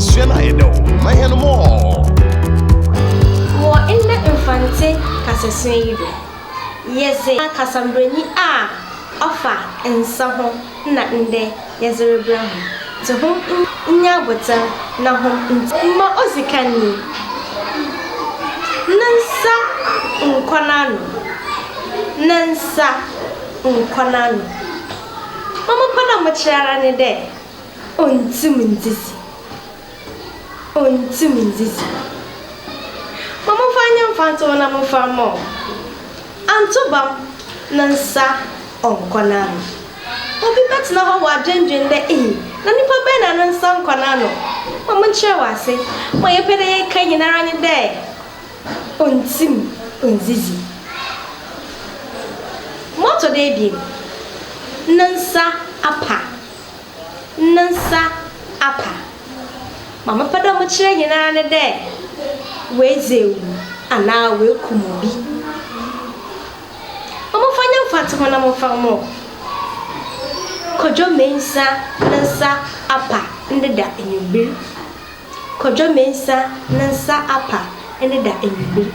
Sua no ayɛ dɛ o, ma hɛn more. Wɔ ndɛ Mfantse kasasua yi do, yɛdze kasa mbrɛnyi a ɔfa nsa ho na ndɛ yɛdze rebrɛ hom dze hom nyɛ abotar na hom ntsi. Ma odzi kan nye Ne nsa nkɔ n'ano, ne nsa nkɔ n'ano. Mo mopon a mokyerɛ ara nye dɛ. Onntum ndzidzi, onntum ndzidzi. Ma momfa nyɛ mfatoho na momfa mma ɔn. Anto bam no nsa ɔnkɔ n'ano. Obi bɛtsena hɔ ɔadwendwen dɛ, Ei, na nyimpa bɛn na no nsa nnkɔ n'ano? Ma monkyerɛ wo ase, ma yɛpɛ dɛ yɛkã nyinara nye dɛ, Onntum nndzidzi. Ma ɔtɔ do ebien, no nsa apa. no nsa apa. Ma mepɛ dɛ mekyerɛ hɛn ara nye dɛ woedzi ewu anaa woekum obi. Wɔmfa nye mfatoho na wɔmfa mma wo. Kodwo Mensah ne nsa apa ndɛ da ewimbir. Kodwo Mensah ne nsa apa ndɛ da ewimbir.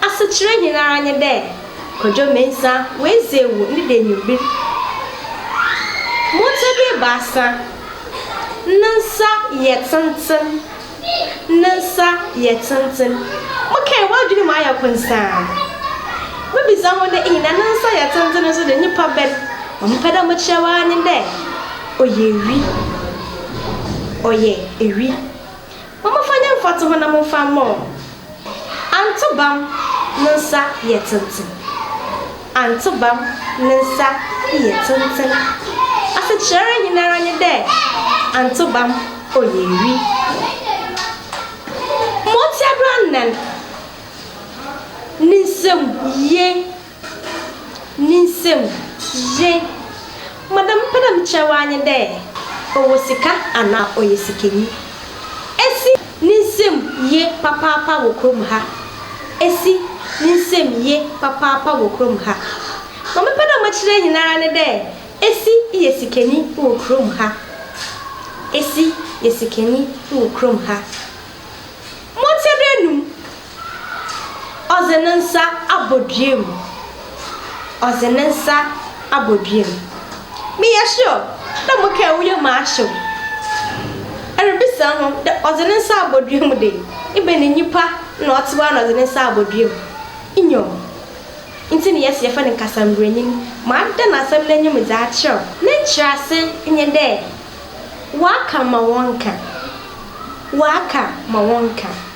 Asekyerɛ he ara nye dɛ Kwadwo Mensah oedzi ewu ne da ewimbir. Motse bi ebiasa, ne nsa yɛ tsentsen, ne nsa yɛ tsentsen. Mokãe, w'adwen mu ayɛ konsã a. Mibisa ho dɛ, Iyi, na ne nsa yɛ tsentsen no so dze nyimpa bɛn? Ma mepɛ dɛ mekyerɛ wo ara nye dɛ ɔyɛ wi. Ɔyɛ wi. Momfa nyɛ mfatoho na momfa mmɔ wɔn. Antobam no nsa yɛ tenten. Antobam ne nsa yɛ tenten. Asekyerɛ nyinara nye dɛ antobam ɔyɛ wi. Ma otsia do anan ne nsamu yie. ne nsamu ye. Ma dza mepɛ dɛ mekyerɛ wo ara nye dɛ ɔwɔ sika anaa ɔyɛ sikanyi. Esi ne nsamu ye papaapa wɔ kurom ha. Esi ne nsamu ye papaapa wɔ kurom ha. Ma mepɛ dɛ mekyerɛ hɛn ara nye dɛ esi yɛ sikanyi wɔ kurom ha. Esi yɛ sikanyi wɔ kurom ha. Mɔtsea do enum. Ɔdze ne nsa abɔdua mu, ɔdze ne nsa abɔdua mu. Meyɛ sure dɛ mo kaa woyɛ mu ahyew. Erebisa ho dɛ ɔdze ne nsa abɔdua mu dɛ, ebɛn nyimpa na ɔtse hɔ ara na ɔdze ne nsa abɔdua mu? Nyew, ntsi na yɛse yɛfrɛ no nkasamburanyin. Maada n'asɛm n'enyim dze akyerɛw. Ne nkyerɛase nye dɛ, wɔaka ma wɔnka, wɔaka ma wɔnka.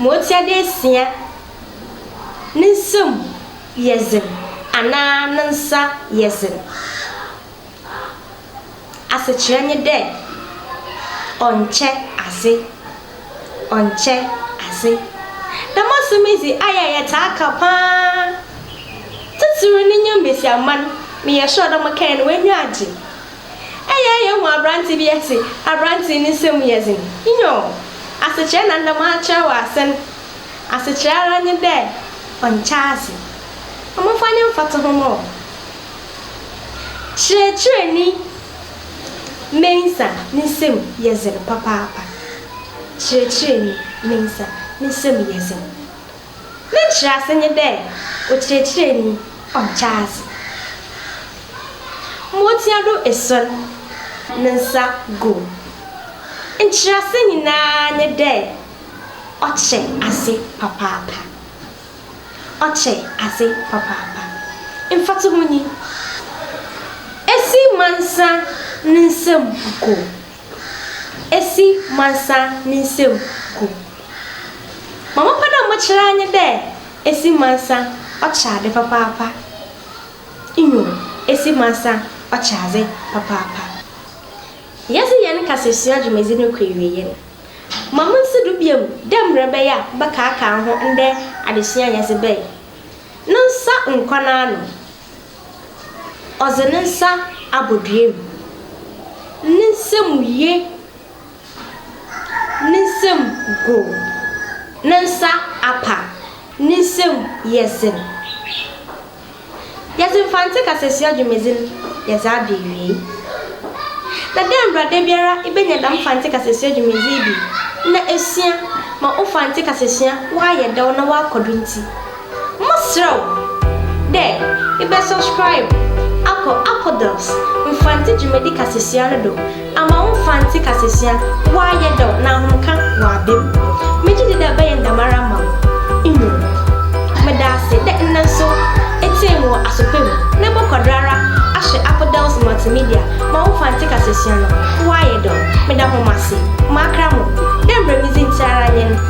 ma otsia dɛ esia, ne nsamu yɛ dzen anaa ne nsa yɛ dzen. Asekyerɛ nye dɛ, ɔnnkyɛ adze, ɔnnkyɛ adze. Dɛm asɛm yi dze, ayɛ a yɛtaa ka paa, tsitsir no nye mbasiamba no, meyɛ sure dɛ wɔkɛɛn no hɔn enyi agye. Eyɛ yehu aberante bi ɛte, aberante ne nsɛm mu yɛ dzen, nyoo, asekyerɛ na nna m'akyerɛ wɔ ase no, asekyerɛ ara nye dɛ ɔnkyɛ adze. Momfa nye mfatoho mma wo. Kyerɛkyerɛnyi Mensah ne nsɛm mu yɛ dzen papaapa, kyerɛkyerɛnyi Mensah ne nsɛm mu yɛ dzen. Ne nkyerɛase nye dɛ okyerɛkyerɛnyi a ɔkyɛ adze. Ma otsia do esuon ne nsa gu mu. Nkyerɛase nyina nye dɛ ɔkyɛ adze papaapa. Ɔkyɛ adze papaapa. Mfatoho nyi, Esi mansa ne nsamu gu esi mansa ne nsamu gu. Ma mopɛ dɛ mokyerɛ ara nye dɛ esi mansa ɔkyɛ adze papaapa, nyew, esi mansa ɔkyɛ adze papaapa. Yɛdze hɛn kasasua dwumadzi no kɔ ewiei no, ma monsi do bio dɛ mbrɛ ɔbɛyɛ a wɔbɛkaakaa ho ndɛ adesua a yɛdze bae no nsa nkɔ n'ano. Ɔdze ne nsa abɔdua mu. Ne nsamu ye ne nsamu gu. Ne nsa apa, ne nsamu yɛ dzen. Yɛdze Mfantse kasasua dwumadzi no yɛdze aba ewiei. Na dɛ mbrɛ dabiara ibenya dɛm Mfantse kasasua dwumadzi yi bi na esua ma wo Mfantse kasasua ɔayɛ dɛw na ɔakɔ do ntsi, Mosrɛ wo dɛ ebɛ subscribe akɔ Aquadelphs Mfantse dwumadzi kasasua no do ama wo Mfantse kasasua ɔayɛ dɛw na ahomka ɔaba mu. Megye dzi dɛ ɔbɛyɛ ne dɛmara ama wo, nyew, meda ase dɛ ndɛ so etsie me wɔ asopa mu na ebɔkɔ do ara ahwɛ Aquadelphs Multimedia ma wo Mfantse kasasua no ɔayɛ dɛw. Meda hom ase, makra mo dɛ mbrɛ medzi ntsi ara nye n'.